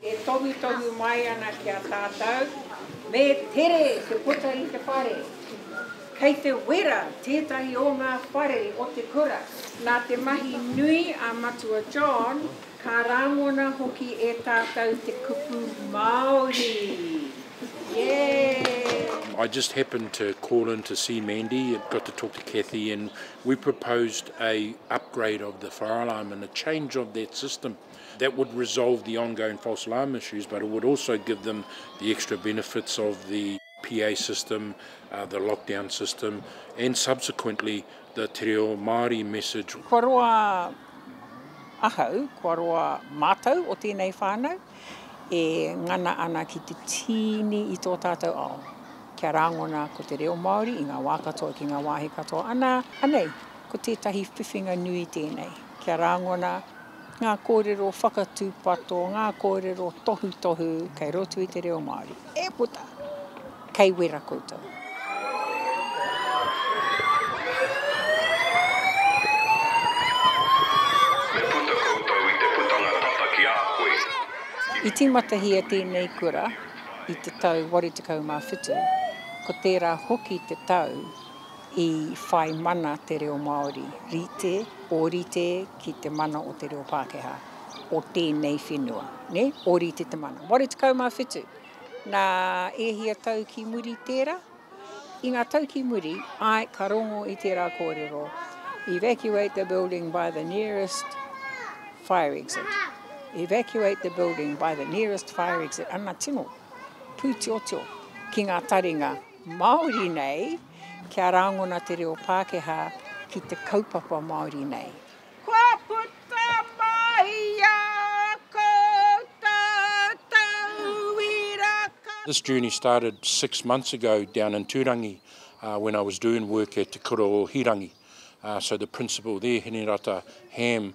E tohutohu mai ana ki a tātou, me tere te puta i te whare. Kei te wera tētahi o ngā whare o te kura. Nā te mahi nui a Matua John, ka rāngona hoki e tātou te kupu Māori. Yay! I just happened to call in to see Mandy, got to talk to Cathy and we proposed a upgrade of the fire alarm and a change of that system. That would resolve the ongoing false alarm issues but it would also give them the extra benefits of the PA system, uh, the lockdown system and subsequently the Te Reo Māori message. Kua roa ahau, kua roa mātou o tēnei whānau e ngana ana ki te tīni i tō tātou ao. Kia rāngona ko te reo Māori i ngā wā katoa ki ngā wāhi katoa. Anā, anei, ko tētahi whiwhinga nui tēnei. Kia rangona ngā kōrero whakatūpato, ngā kōrero tohutohu kei roto i te reo Māori. E puta! Kei wera koutou. I tīmatahia tēnei kura i te tau 87, ko tērā hoki te tau i whai mana te reo Māori rite, ōrite ki te mana o te reo Pākehā, o tēnei whenua. Nē? Ōrite te mana. 87. Nā, e hia tau ki muri tērā? I ngā tau ki muri, āe, ka rongo i tērā kōrero, Evacuate the building by the nearest fire exit. Evacuate the building by the nearest fire exit. Ana tino pūtiotio ki ngā taringa Māori nei, Kia rāngona te reo Pākehā ki te kaupapa Māori nei. Kua puta mai a kou tātou iraka. This journey started six months ago down in Turangi when I was doing work at Te Kura o Hirangi so the principal there Hinerata Ham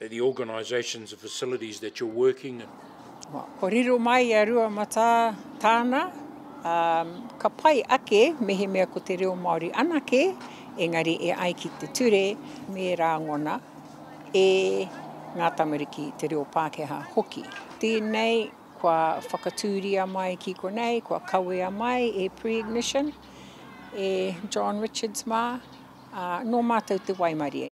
the organisations and facilities that you're working in. Ko riro mai i a Rua Matā tāna, ka pai ake mehemea ko te reo Māori anake, engari e ai ki te ture me rāngona e ngā tamariki te reo Pākehā hoki. Tēnei kua whakatūria mai ki konei, kua kawea mai e Pre-Ignition, e John Richards mā, nō mātou te waimarie.